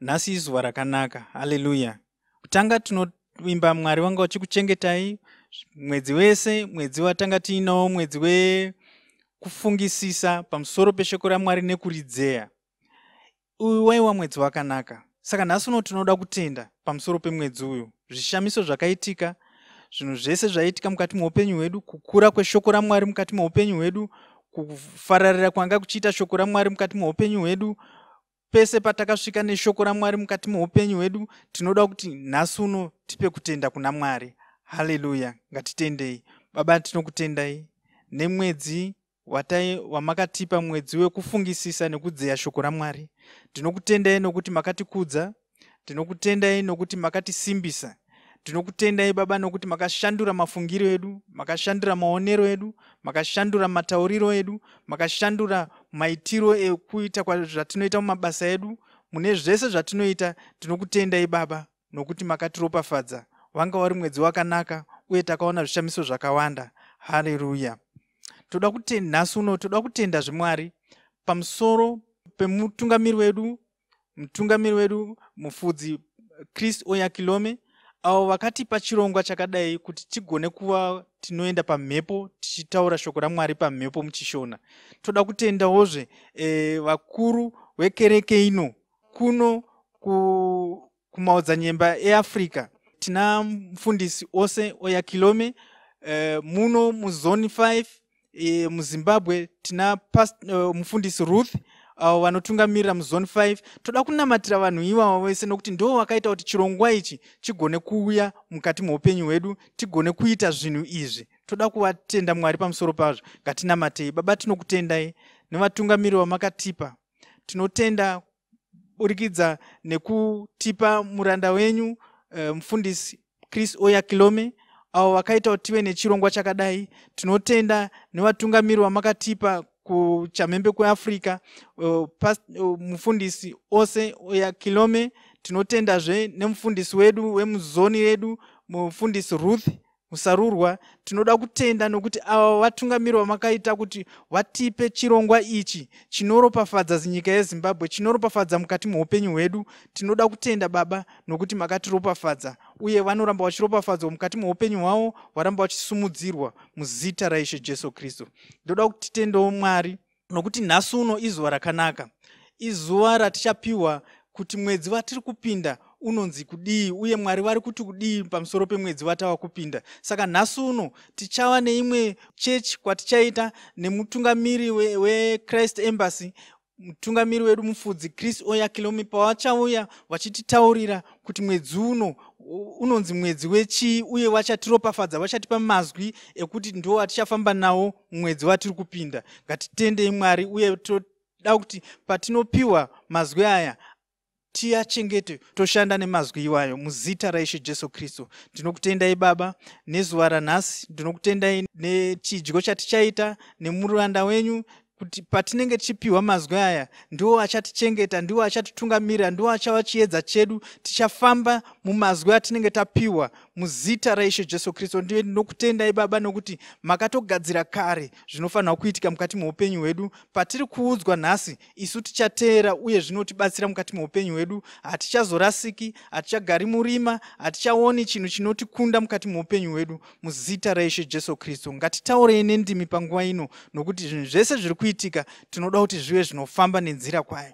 nhasi izuva rakanaka haleluya kutanga tinoimba mwari wanga uchikuchengetai mwedzi wese mwedzi watanga tiinawo mwedzi wekufungisisa pamusoro peshoko ramwari nekuridzeya uyu waiwa mwedzi wakanaka saka nhasi uno tinoda kutenda pamusoro pemwedzi uyu zvishamiso zvakaitika zvinhu zvese zvaiitika mukati meupenyu hwedu kukura kweshoko ramwari mukati meupenyu hwedu kufararira kwanga kuchiita shoko ramwari mukati meupenyu hwedu Pese patakasvika neshoko raMwari mukati meupenyu hwedu, tinoda kuti nhasi uno tipe kutenda kuna Mwari. Haleluya! Ngatitendei. Baba, tinokutendai nemwedzi watai wamakatipa mwedzi wekufungisisa nekudzeya shoko raMwari. Ndinokutendai nokuti makatikudza Tinokutendai nokuti makatisimbisa. Tinokutendai Baba nokuti makashandura mafungiro edu, makashandura maonero edu, makashandura matauriro edu, makashandura maitiro ekuita zvatinoita mumabasa edu. Mune zvese zvatinoita tinokutendai Baba nokuti makatiropafadza. Wanga wari mwedzi wakanaka uye takaona zvishamiso zvakawanda. Haleluya. Toda kutenda nhasi uno, toda kutenda zvimwari pamusoro pemutungamiri wedu mutungamiri wedu mufudzi chris oyakilome avo vakatipa chirongwa chakadai kuti tigone kuva tinoenda pamhepo tichitaura shoko ramwari pamhepo muchishona toda kutendawozve e, vakuru vekereke ino kuno ku kumaodzanyemba eafrica tina mfundisi ose oya kilome eh, muno muzoni 5 eh, muzimbabwe tina past, eh, mufundisi ruth avo uh, vanotungamirira muzoni 5 toda kunamatira vanhu ivavo vese nokuti ndo vakaita kuti chirongwa ichi chigone kuuya mukati meupenyu hwedu tigone kuita zvinhu izvi toda kuvatenda mwari pamusoro pazvo ngatinamatei baba tinokutendai nevatungamiri vamakatipa tinotenda kuburikidza nekutipa muranda wenyu uh, mufundisi chris oya kilome avo vakaita kuti tive nechirongwa chakadai tinotenda nevatungamiri vamakatipa kuchamhembe kweafrica uh, uh, mufundisi ose oya kilome tinotendazve nemufundisi wedu wemuzoni redu mufundisi ruth musarurwa tinoda kutenda nokuti ava vatungamiri vamakaita kuti vatipe chirongwa ichi chinoropafadza zinyika yezimbabwe chinoropafadza mukati meupenyu hwedu tinoda kutenda baba nokuti makatiropafadza uye vanoramba vachiropafadzwa mukati meupenyu hwavo varamba vachisumudzirwa muzita raishe jesu kristu ndoda kutitendawo mwari nokuti nhasi uno izuva rakanaka izuva ratichapiwa kuti mwedzi vatiri kupinda unonzi kudii uye mwari vari kuti kudii pamusoro pemwedzi vatava kupinda saka nhasi uno tichava neimwe chechi kwatichaita nemutungamiri wechrist we embassy mutungamiri wedu mufudzi chris oyakilomi pavachauya vachititaurira kuti mwedzi uno unonzi mwedzi wechii uye vachatiropafadza vachatipa mazwi ekuti ndo atichafamba nawo mwedzi watiri kupinda ngatitendei mwari uye toda kuti patinopiwa mazwi aya tiachengete toshanda nemazwi iwayo muzita raishe jesu kristu ndinokutendai baba nezuva ranhasi ndinokutendai nechidyo chatichaita nemuranda wenyu kuti patinenge tichipiwa mazwi aya ndiwo achatichengeta ndiwo achatitungamirira ndiwo achava chiedza chedu tichafamba mumazwi atinenge tapiwa muzita raishe jesu kristu ndiye ndinokutendai baba nokuti makatogadzira kare zvinofanirwa kuitika mukati meupenyu hwedu patiri kuudzwa nhasi isu tichateera uye zvinotibatsira mukati meupenyu hwedu hatichazorasiki hatichagari murima hatichaoni chinhu chinotikunda mukati meupenyu hwedu muzita raishe jesu kristu ngatitaurei nendimi panguva ino nokuti zvinhu zvese zviri kuitika tinoda kuti zvive zvinofamba nenzira kwayo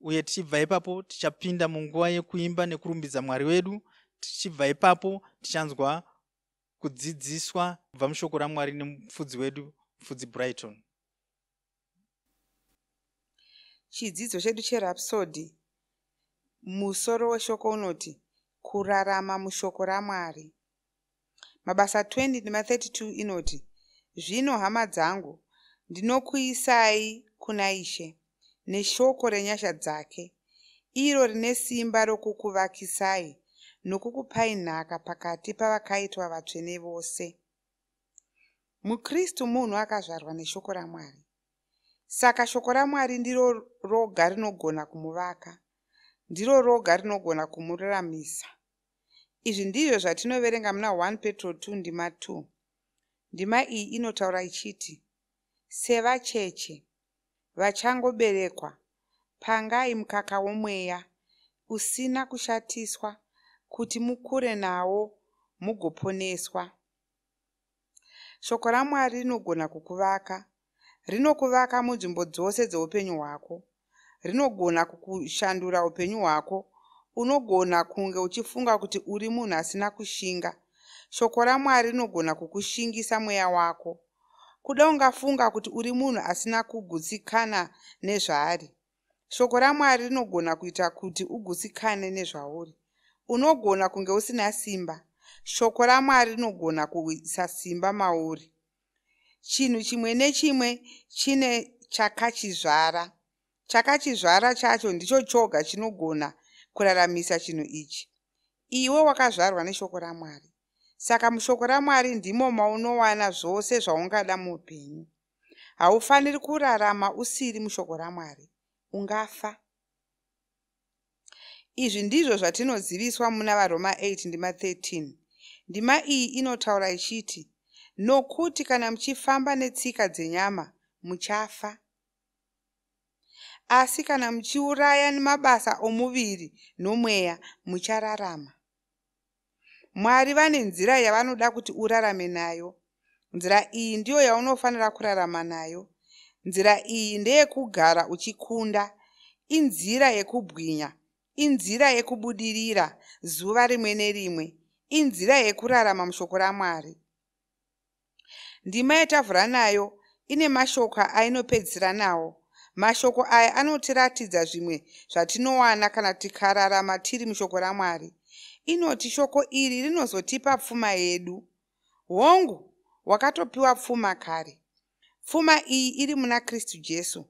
uye tichibva ipapo tichapinda munguva yekuimba nekurumbidza mwari wedu tichibva ipapo tichanzwa kudzidziswa kubva mushoko ramwari nemufudzi wedu mufudzi brighton chidzidzo chedu cherapsody musoro weshoko unoti kurarama mushoko ramwari Mabasa 20 ndima 32 inoti, Zvino hama dzangu, ndinokuisai kuna Ishe neshoko renyasha dzake, iro rine simba rokukuvakisai nokukupai nhaka pakati pavakaitwa vatsvene vose. MuKristu munhu akazvarwa neshoko raMwari. Saka shoko raMwari ndiro roga rinogona kumuvaka, ndiro roga rinogona kumururamisa. Izvi ndizvo zvatinoverenga muna 1 Petro 2 ndima 2. Ndima iyi inotaura ichiti, Sevacheche vachangoberekwa, pangai mukaka womweya usina kushatiswa kuti mukure nawo mugoponeswa. Shoko raMwari rinogona kukuvaka. Rinokuvaka munzvimbo dzose dzeupenyu hwako. Rinogona kukushandura upenyu hwako. Unogona kunge uchifunga kuti uri munhu asina kushinga. Shoko raMwari rinogona kukushingisa mweya wako. Kuda ungafunga kuti uri munhu asina kugutsikana nezvaari. Shoko raMwari rinogona kuita kuti ugutsikane nezvauri. Unogona kunge usina simba. Shoko raMwari rinogona kuisa simba mauri. Chinhu chimwe nechimwe chine chakachizvara. Chakachizvara chacho ndicho choga chinogona kuraramisa chinhu ichi. Iwe wakazvarwa neshoko raMwari. Saka mushoko raMwari ndimo maunowana zvose zvaungada muupenyu. haufaniri kurarama usiri mushoko ramwari ungafa izvi ndizvo zvatinoziviswa muna varoma 8 ndima 13 ndima iyi inotaura ichiti nokuti kana muchifamba netsika dzenyama muchafa asi kana muchiuraya mabasa omuviri nomweya muchararama mwari vane nzira yavanoda kuti urarame nayo nzira iyi ndiyo yaunofanira kurarama nayo nzira iyi ndeyekugara uchikunda inzira yekubwinya inzira yekubudirira zuva rimwe nerimwe inzira yekurarama mushoko ramwari Ndima yatavhura nayo ine mashoko ainopedzisira nawo. Mashoko aya anotiratidza zvimwe zvatinowana kana tikararama tiri mushoko raMwari. Inoti shoko iri rinozotipa pfuma yedu. Hongu, wakatopiwa pfuma kare. Pfuma iyi iri muna Kristu Jesu,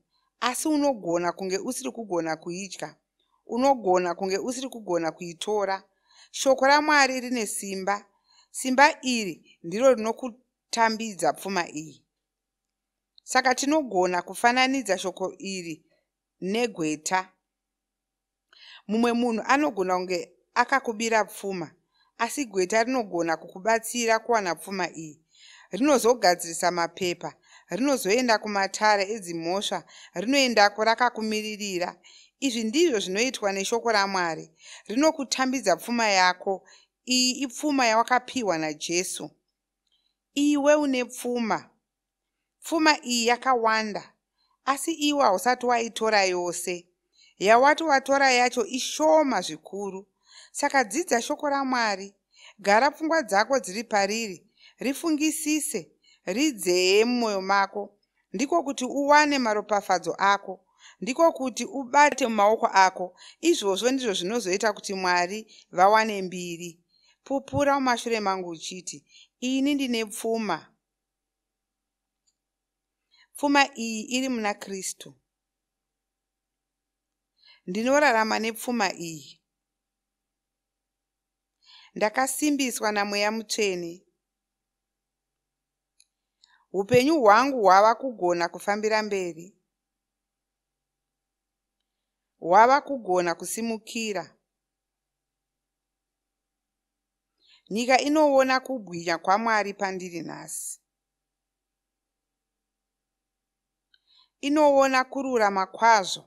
asi unogona kunge usiri kugona kuidya. unogona kunge usiri kugona kuitora shoko ramwari rine simba simba iri ndiro rinokutambidza pfuma iyi saka tinogona kufananidza shoko iri negweta mumwe munhu anogona kunge akakubira pfuma asi gweta rinogona kukubatsira kuwana pfuma iyi rinozogadzirisa mapepa rinozoenda kumatare edzimhosva rinoendako rakakumiririra izvi ndizvo zvinoitwa neshoko ramwari rinokutambidza pfuma yako iyi ipfuma yawakapiwa najesu iwe une pfuma pfuma iyi yakawanda asi iwe hausati waitora yose yawati watora yacho ishoma zvikuru saka dzidza shoko ramwari gara pfungwa dzako dziri pariri rifungisise ridzeye mumwoyo mako ndiko kuti uwane maropafadzo ako ndiko kuti ubate mumaoko ako izvozvo ndizvo zvinozoita kuti mwari vawane mbiri pupura mumashure mangu uchiti ini ndine pfuma pfuma iyi iri muna kristu ndinorarama nepfuma iyi ndakasimbiswa namweya mutsvene upenyu hwangu hwava kugona kufambira mberi hwava kugona kusimukira nyika inoona kubwinya kwamwari pandiri nhasi inoona kururama kwazvo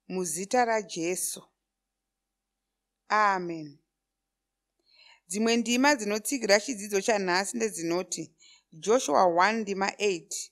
muzita rajesu amen dzimwe ndima dzinotsigira chidzidzo chanhasi ndedzinoti joshua 1 ndima 8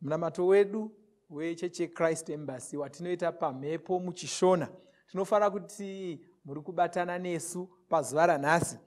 Munamato wedu wechechi yechrist embassy watinoita pamhepo muchishona tinofara kuti muri kubatana nesu pazuva ranhasi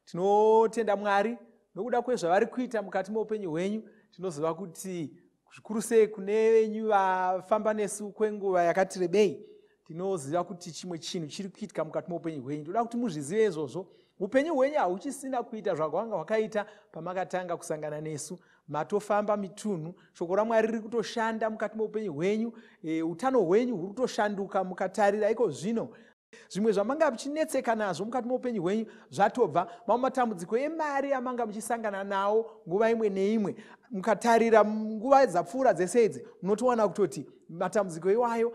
tinotenda mwari nokuda kwezvavari kuita mukati meupenyu hwenyu tinoziva kuti zvikuru sei kune venyu vafamba nesu kwenguva yakati rebei tinoziva kuti chimwe chinhu chiri kuitika mukati meupenyu hwenyu toda kuti muzvizive izvozvo upenyu hwenyu hauchisina kuita zvakanga hwakaita pamakatanga kusangana nesu matofamba mitunhu shoko ramwari riri kutoshanda mukati meupenyu hwenyu e, utano hwenyu huri kutoshanduka mukatarira iko zvino zvimwe zvamanga muchinetseka nazvo mukati meupenyu hwenyu zvatobva mamwe matambudziko emari amanga muchisangana nawo nguva imwe neimwe mukatarira nguva dzapfuura dzese idzi munotowana kutoti matambudziko iwayo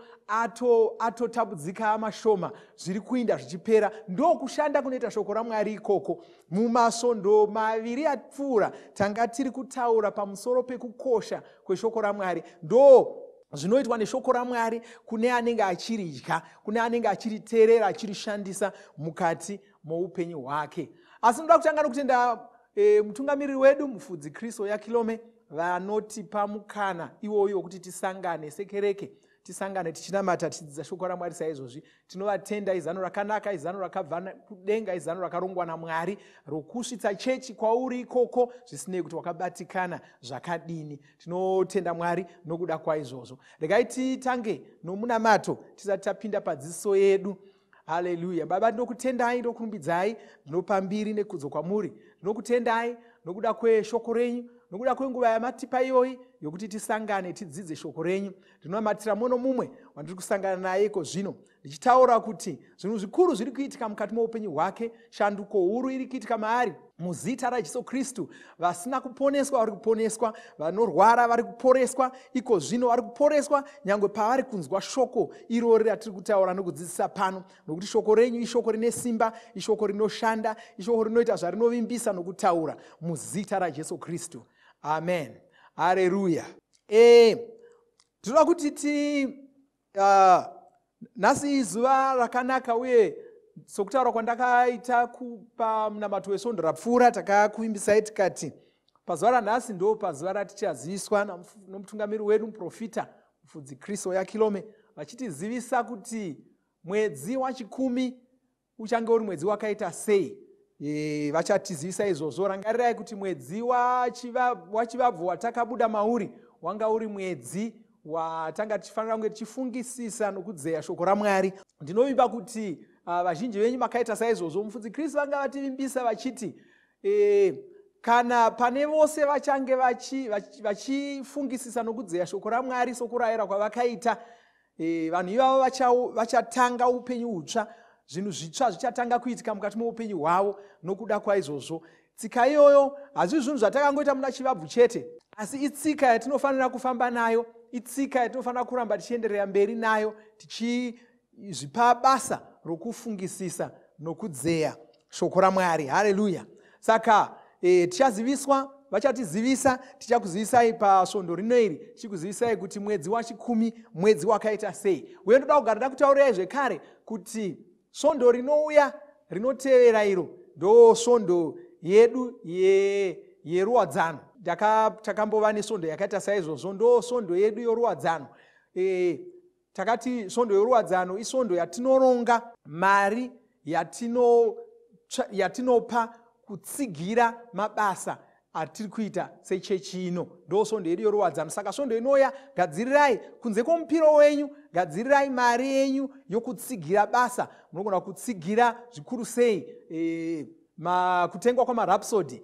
atotambudzika ato mashoma zviri kuinda zvichipera ndokushanda kunoita shoko ramwari ikoko mumasvondo maviri apfuura tanga tiri kutaura pamusoro pekukosha kweshoko ramwari ndo zvinoitwa neshoko ramwari kune anenge achiridya kune anenge achiriterera achirishandisa mukati moupenyu hwake asi ndoda kutanga nokutenda E, mutungamiriri wedu mufudzi kriso yakilome vanotipa mukana iwoyo wekuti tisangane sekereke tisangane tichinamata tichidzidza shoko ramwari saizvozvi tinovatenda izano rakanaka izano rakabva kudenga izano rakarongwa namwari rokusvitsa chechi kwauri ikoko zvisinei kuti wakabatikana zvakadini tinotenda mwari nokuda kwaizvozvo regai titange nomunamato tisati tapinda padziso yedu haleluya baba ndinokutendai ndokurumbidzai ndinopa mbiri nekudzo kwamuri ndinokutendai nokuda kweshoko renyu nokuda kwenguva yamatipa iyoyi yokuti tisangane tidzidze shoko renyu ndinonamatira mumwe nomumwe wandiri kusangana naye iko zvino ndichitaura kuti zvinhu zvikuru zviri kuitika mukati moupenyu hwake shanduko huru iri kuitika maari muzita rajesu kristu vasina kuponeswa vari kuponeswa vanorwara vari kuporeswa iko zvino vari kuporeswa nyange pavari kunzwa shoko irori ratiri kutaura nokudzidzisa pano nokuti shoko renyu ishoko rine simba ishoko rinoshanda ishoko rinoita zvarinovimbisa nokutaura muzita rajesu kristu amen hareruya e tinoda kuti ti uh, nhasi izuva rakanaka uye sokutaura kwandakaita kupa munamato wesvondo rapfuura takakuimbisai tikati pazuva ranhasi ndo pazuva ratichaziswa nomutungamiri wedu muprofita mufudzi kristo yakilome vachitizivisa kuti mwedzi wachikumi uchange uri mwedzi wakaita sei e, vachatizivisa izvozvo rangarirai kuti mwedzi wachivabvu watakabuda mauri wanga uri mwedzi watanga tichifanira kunge tichifungisisa nokudzeya shoko ramwari ndinovimba kuti uh, vazhinji venyu makaita saizvozvo mufudzi kristu vanga vativimbisa vachiti e, kana pane vose vachange vachifungisisa vachi, vachi nokudzeya shoko ramwari sokurayira kwavakaita e, vanhu ivavo vachatanga vacha upenyu utsva zvinhu zvitsva zvichatanga kuitika mukati moupenyu hwavo nokuda kwaizvozvo tsika iyoyo hazvii zvinhu zvatakangoita muna chivabvu chete asi itsika yatinofanira kufamba nayo itsika yatinofanira kuramba tichienderera mberi nayo tichizvipa basa rokufungisisa nokudzeya shoko ramwari hareruya saka e, tichaziviswa vachatizivisa tichakuzivisai pasvondo rino iri tichikuzivisai kuti mwedzi wachikumi mwedzi wakaita sei uye ndoda kugara ndakutaurirai zvekare kuti svondo rinouya rinotevera iro ndo svondo yedu yeruwadzano ye takambova nesvondo yakaita saizvozvo ndo svondo yedu yoruwadzano e, Takati svondo yoruwadzano isvondo yatinoronga mari yatino yatinopa kutsigira mabasa atiri kuita sechechi ino ndo svondo yedu yoruwadzano saka svondo inoya gadzirirai kunze kwomupiro wenyu gadzirirai mari yenyu yokutsigira basa munogona kutsigira zvikuru sei e, ma, kutengwa kwamarapsody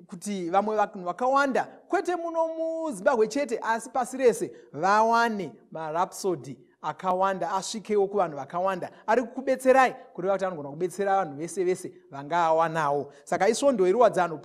kuti vamwe vanhu vakawanda kwete muno muzimbabwe chete asi pasi rese vawane marapsody akawanda asvikewo kuvanhu vakawanda ari kukubetserai kureva kuti anogona kubetsera vanhu vese vese vangaawanawo saka isvondo yeruwadzano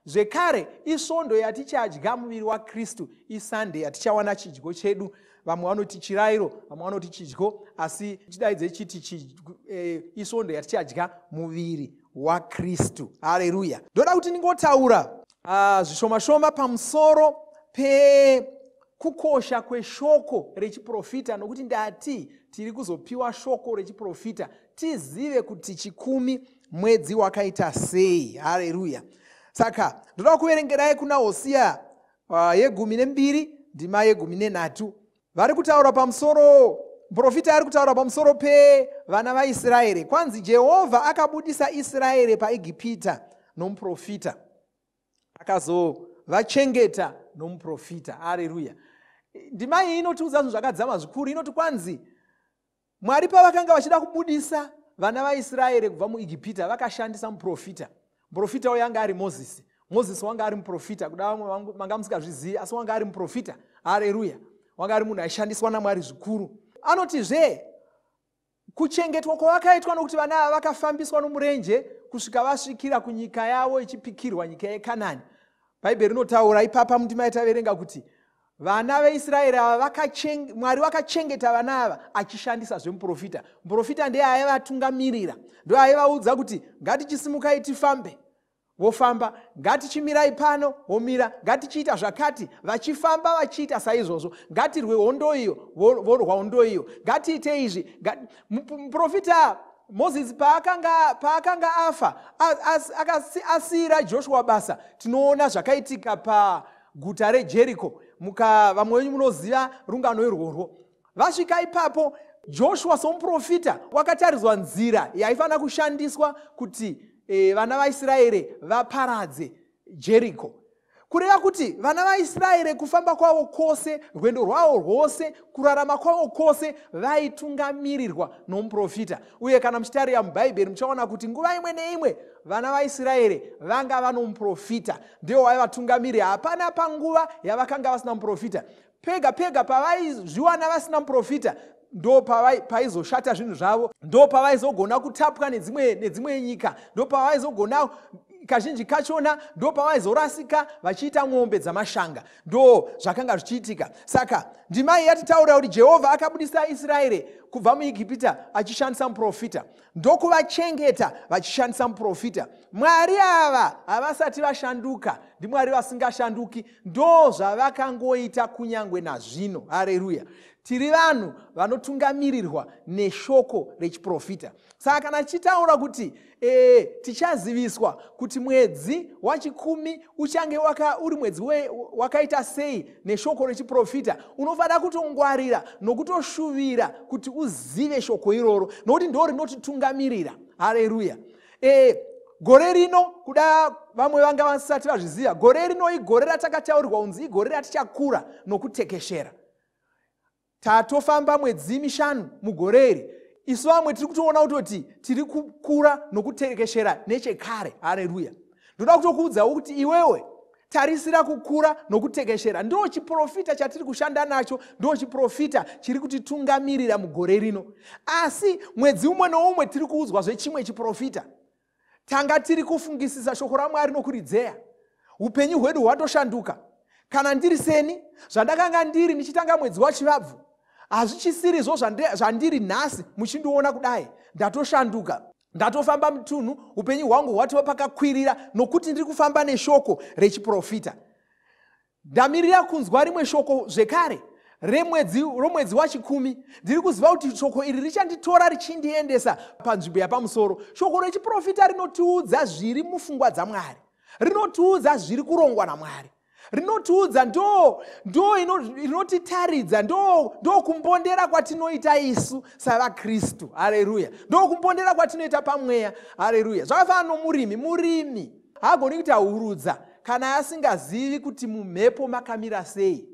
zvekare isvondo yatichadya muviri wakristu isande yatichawana chidyo chedu vamwe vanoti chirairo vamwe vanoti chidyo asi chidaidze chiti chi, e, isvondo yatichadya muviri wakristu hareruya ndoda kuti ndingotaura ah, zvishoma shoma pamusoro pekukosha kweshoko rechiprofita nokuti ndati tiri kuzopiwa shoko rechiprofita tizive kuti chikumi mwedzi wakaita sei hareruya saka ndoda kuverengerai kuna hosiya uh, yegumi nembiri ndima yegumi nenhatu vari kutaura pamusoro muprofita ari kutaura pamusoro pevana vaisraeri kwanzi jehovha akabudisa israeri paegipita nomuprofita akazovachengeta nomuprofita areruya ndima iyi inotiudza zvinhu zvakadzama zvikuru inoti kwanzi mwari pavakanga vachida kubudisa vana vaisraeri kubva muigipita vakashandisa muprofita muprofita uyo anga ari mozisi mozisi wanga ari muprofita kuda vamwe manga musingazvizivi asi wanga ari muprofita hareruya wanga ari munhu aishandiswa namwari zvikuru anotizve kuchengetwa kwavakaitwa nokuti vana ava vakafambiswa nomurenje kusvika vasvikira kunyika yavo ichipikirwa nyika yekanani bhaibheri rinotaura ipapa mundima yataverenga kuti vana veisraeri ava mwari vakachengeta vana ava achishandisa zvemuprofita muprofita ndiye aivatungamirira ndo aivaudza kuti ngatichisimukai tifambe vofamba ngatichimirai pano vomira ngatichiita zvakati vachifamba vachiita saizvozvo ngatirwe hondo iyo vorwa hondo iyo ngatiite izvi muprofita mozisi paakanga, paakanga afa asiira joshua basa tinoona zvakaitika pa guta rejeriko muka vamwe venyu munoziva rungano irworwo vasvika ipapo joshua somuprofita wakatariswa nzira yaifanira kushandiswa kuti e, vana vaisraeri vaparadze jeriko kureva kuti vana vaisraeri kufamba kwavo kwose rwendo rwavo rwose kurarama kwavo kwose vaitungamirirwa nomuprofita uye kana muchitarira mubhaibheri muchaona kuti nguva imwe neimwe vana vaisraeri vanga vanomuprofita ndivo vaiva vatungamiri hapana panguva yavakanga vasina muprofita pega pega pavaizviwana vasina muprofita ndo paizoshata zvinhu zvavo ndo pavaizogona kutapwa nedzimwe nedzimwe nyika ndo pavaizogona kazhinji kachona ndo pavaizorasika vachiita mombe dzamashanga ndo zvakanga zvichiitika saka ndimai yatitaurira kuti jehovha akabudisa israeri kubva muegipita achishandisa muprofita ndokuvachengeta vachishandisa muprofita mwari ava havasati vashanduka ndimwari vasingashanduki ndo zvavakangoita kunyange nazvino hareruya tiri vanhu vanotungamirirwa neshoko rechiprofita saka kana tichitaura kuti e, tichaziviswa kuti mwedzi wachikumi uchange waka, uri mwedzi we, wakaita sei neshoko rechiprofita unofanira kutongwarira nokutoshuvira kuti uzive shoko iroro nokuti ndo rinotitungamirira hareruya e, gore rino kuda vamwe vanga vasati vazviziva gore rino igore ratakataurirwa kunzi igore ratichakura nokutekeshera tatofamba mwedzi mishanu mugore iri isu vamwe tiri kutoona kutoti tiri kukura nokuterekeshera nechekare hareruya ndoda kutokuudzawo kuti iwewe tarisira kukura nokutekeshera ndo chiprofita chatiri kushanda nacho ndo chiprofita chiri kutitungamirira mugore rino asi mwedzi umwe noumwe tiri kuudzwa zvechimwe chiprofita tanga tiri kufungisisa shoko ramwari nokuridzeya upenyu hwedu hwatoshanduka kana ndiri seni zvandakanga ndiri ndichitanga mwedzi wachivabvu hazvichisirizvo zvandiri nhasi muchindiona kudai ndatoshanduka ndatofamba mutunhu upenyu hwangu hwatova pakakwirira nokuti ndiri kufamba neshoko rechiprofita Ndamirira kunzwa rimwe shoko zvekare remwedzi romwedzi wachikumi ndiri kuziva kuti shoko iri richanditora richindiendesa panzvimbo yapamusoro shoko rechiprofita rinotiudza zviri mufungwa dzamwari rinotiudza zviri kurongwa namwari rinotiudza ndo ndo rinotitaridza ndo ndo kumbondera kwatinoita isu savakristu hareruya ndo kumbondera kwatinoita pamweya hareruya zvakafana nomurimi murimi Haagoni kuita hurudza kana asingazivi kuti mumhepo makamira sei.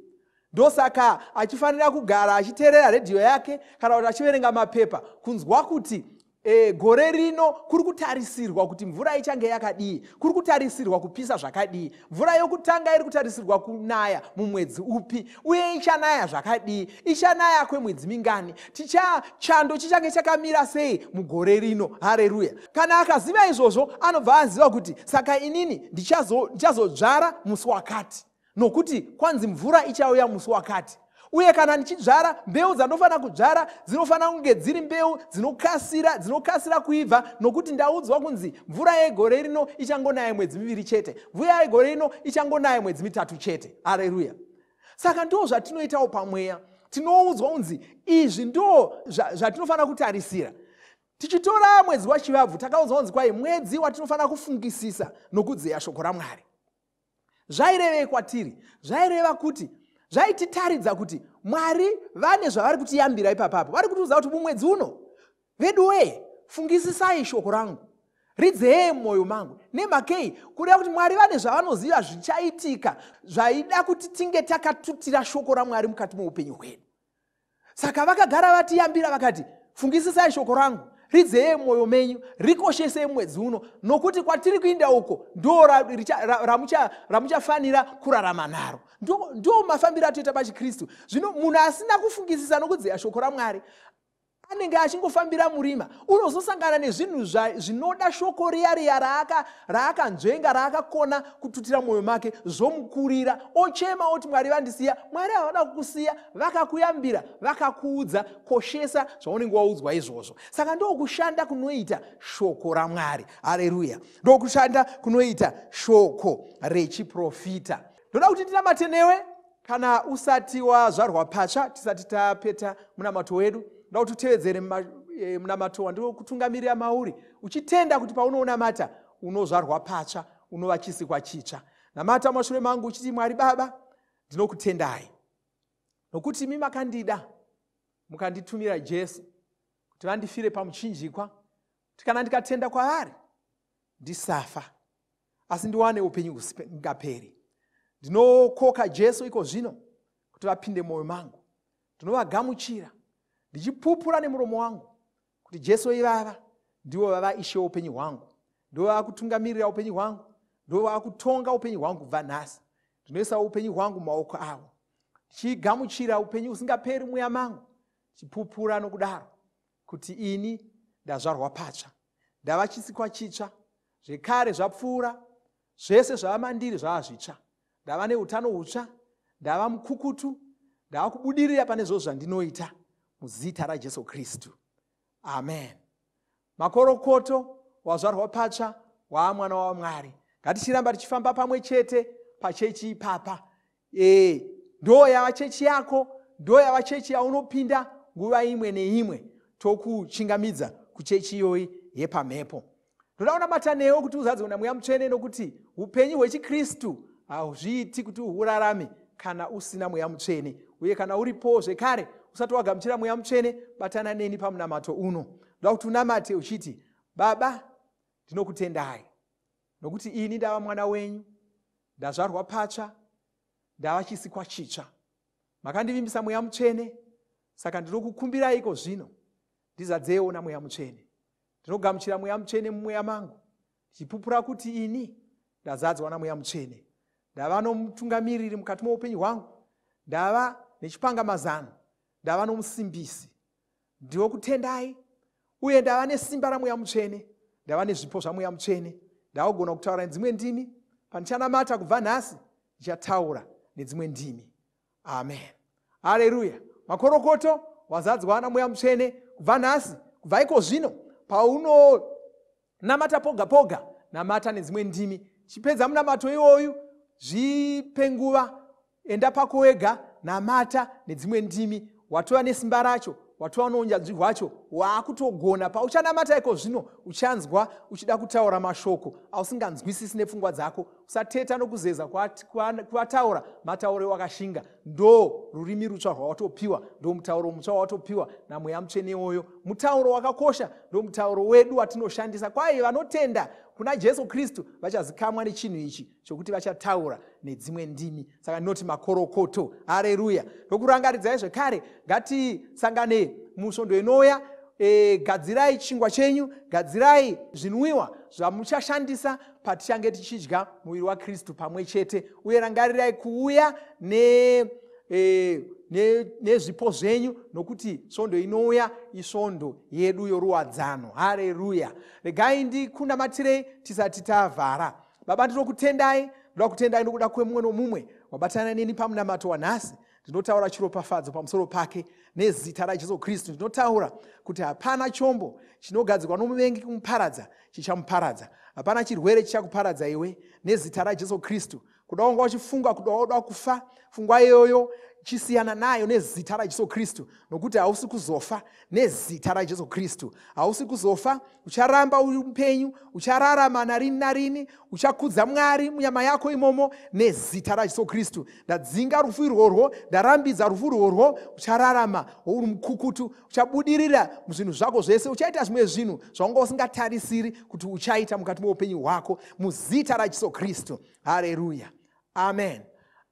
Ndosaka achifanira kugara achiterera redhiyo yake kana kuti achiverenga mapepa kunzwa kuti e, gore rino kuri kutarisirwa kuti mvura ichange yakadii, kuri kutarisirwa kupisa zvakadii, mvura yokutanga iri kutarisirwa kunaya mumwedzi upi. Uye ichanaya zvakadii? Ichanaya kwemwedzi mingani? Ticha, chando chichange chakamira sei mugore rino? Hareruya! Kana akaziva izvozvo, anobva aziva kuti saka inini ndichazodzvara ndichazo musi wakati, nokuti kwanzi mvura ichauya musi wakati uye kana ndichidzvara mbeu dzandofanira kudzvara dzinofanira kunge dziri mbeu dzinokasira dzinokasira kuibva nokuti ndaudzwa kunzi mvura yegore rino ichangonaya mwedzi miviri chete mvura yegore rino ichangonaya mwedzi mitatu chete areruya saka ndoo zvatinoitawo pamweya tinoudzwa kunzi izvi ndoo zvatinofanira kutarisira tichitora mwedzi wachivabvu takaudzwa kunzi kwai mwedzi watinofanira kufungisisa nokudzeya shoko ramwari zvairevei kwatiri zvaireva kuti zvaititaridza kuti mwari vane zvavari kutiyambira ipapapo vari kutiudza kuti mumwedzi uno veduwee fungisisai shoko rangu ridzee mumwoyo mangu nemakei kureva kuti mwari vane zvavanoziva zvichaitika zvaida kuti tinge takatutira shoko ramwari mukati meupenyu hwedu saka vakagara vatiyambira vakati fungisisai shoko rangu ridzeye mwoyo menyu rikoshesei mwedzi uno nokuti kwatiri kuinda uko ndo ramuchafanira kurarama naro ndo mafambiro atoita pachikristu zvino munhu asina kufungisisa nokudzeya shoko ramwari anenge achingofambira murima unozosangana nezvinhu zvinoda shoko riya riya raakanzvenga raakakona kututira mwoyo make zvomukurira ochema oti mwari vandisiya mwari havana kukusiya vakakuyambira vakakuudza koshesa zvaunenge waudzwa izvozvo saka ndokushanda kunoita shoko ramwari hareruya ndokushanda kunoita shoko rechiprofita ndoda kuti ndinamate newe kana usati wazvarwa patsva tisati tapeta munamato wedu nda kuti utevedzere eh, munamato wandiri kutungamirira mauri uchitenda kuti paunounamata unozvarwa patsva unova chisikwa chitsva namata mashure mangu uchiti mwari baba ndinokutendai nokuti imi makandida mukanditumira jesu kuti vandifire pamuchinjikwa kuti kana ndikatenda kwaari ndisafa asi ndiwane upenyu husingaperi ndinokoka jesu iko zvino kuti vapinde mwoyo mangu ndinovagamuchira ndichipupura nemuromo wangu kuti jesu ivava ndivo vava ishe upenyu hwangu ndivo vava kutungamirira upenyu hwangu ndivo vava kutonga upenyu hwangu kubva nhasi ndinoisa upenyu hwangu mumaoko avo ndichigamuchira upenyu husingaperi mweya mangu ndichipupura nokudaro kuti ini ndazvarwa patsva ndava chisikwa chitsva zvekare zvapfuura zvese zvava mandiri zvava zvitsva ndava neutano hutsva ndava mukukutu ndava kubudirira pane zvo zvandinoita muzita rajesu kristu amen makorokoto wazvarwa patsva waa mwana wamwari ngatichiramba tichifamba pamwe chete pachechi ipapa ee ndoo yava chechi yako ndoo yava chechi yaunopinda nguva imwe neimwe tokuchingamidza kuchechi iyoyi yepamhepo ndoda kunamata newo kuti uzadzwe na mweya mutsvene nokuti upenyu hwechikristu hauzviiti kuti uhurarame kana usina mweya mutsvene uye kana uripowo zvekare usati wagamuchira mweya mutsvene batana neni pamunamato uno ndoda kuti unamate uchiti baba ndinokutendai nokuti ini ndava mwana wenyu ndazvarwa patsva ndava chisikwa chitsva makandivimbisa mweya mutsvene saka ndinokukumbiraiko zvino ndizadzeyewo namweya mutsvene ndinogamuchira mweya mutsvene mumweya mangu ndichipupura kuti ini ndazadzwa namweya mutsvene ndava nomutungamiriri mukati moupenyu hwangu ndava nechipangamazano ndava nomusimbisi ndinokutendai uye ndava nesimba ramweya mutsvene ndava nezvipo zvamweya mutsvene ndava kugona kutaura nedzimwe ndimi pandichanamata kubva nhasi ndichataura nedzimwe ndimi amen hareruya makorokoto wazadzwa namweya mutsvene kubva nhasi kubva iko zvino pauno Namata poga poga, namata nedzimwe ndimi. Chipedza munamato iwoyu, zvipe nguva, enda pako wega, namata nedzimwe ndimi. Watova nesimba racho, watova nounyanzvi hwacho, waakutogona. Pauchanamata iko zvino, uchanzwa uchida kutaura mashoko ausinganzwisisi nepfungwa dzako, sateta nokuzeza kwataura matauro ewakashinga ndo rurimi rutsva rwawatopiwa ndo mutauro mutsva wawatopiwa namweya mutsvene iwoyo mutauro wakakosha ndo mutauro wedu watinoshandisa kwaye vanotenda kuna jesu kristu vachazikamwa nechinhu ichi chokuti vachataura nedzimwe ndimi saka ndinoti makorokoto hareruya ndokurangaridzai zvekare ngatisangane musvondo inouya e, gadzirai chingwa chenyu gadzirai zvinwiwa zvamuchashandisa patichange tichidya muviri wakristu pamwe chete uye rangarirai kuuya ne e, nezvipo ne zvenyu nokuti svondo inouya isvondo yedu yoruwadzano hareruya regai ndikundamatirei tisati tavhara baba ndinokutendai ndoda kutendai nokuda kwemumwe nomumwe wabatana neni pamunamato wanhasi ndinotaura chiropafadzo pamusoro pake nezita rajesu kristu ndinotaura kuti hapana chombo chinogadzirwa nomuvengi kumuparadza chichamuparadza hapana chirwere chichakuparadza iwe nezita rajesu kristu kuda wanga uchifunga kuda wauda kufa fungwa iyoyo chisiyana nayo nezita rajesu kristu nokuti hausi kuzofa nezita rajesu kristu hausi kuzofa ucharamba uri mupenyu uchararama narini narini uchakudza mwari munyama yako imomo nezita rajesu kristu ndadzinga rufu irworwo ndarambidza rufu irworwo uchararama wouri mukukutu uchabudirira muzvinhu zvako zvese uchaita zvimwe zvinhu zvawanga usingatarisiri kuti uchaita mukati meupenyu hwako muzita rajesu kristu hareruya amen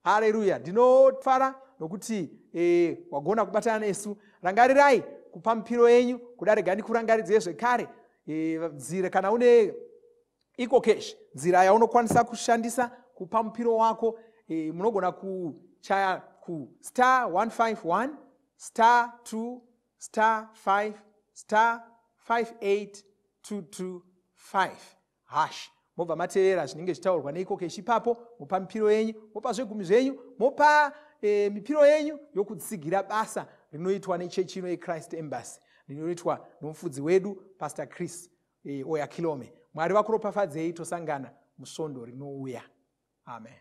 hareruya ndinofara nokuti e, wagona kubatana nesu rangarirai kupa mupiro yenyu kuda rega ndikurangaridzei zvekare e, nzira kana une iko cash nzira yaunokwanisa kushandisa kupa mupiro wako e, munogona kuchaya kustar 151 star 2 star 5 star 58 225 Hash. Mobva mateerera zvinenge zvitaurwa neiko keshi ipapo, mopa mipiro yenyu, mopa zvegumi zvenyu, mopa e, mipiro yenyu yokutsigira basa rinoitwa nechechi ino yechrist embassy rinoitwa nomufudzi wedu pastor chris e, oya kilome mwari vakuropafadzei tosangana musvondo rinouya amen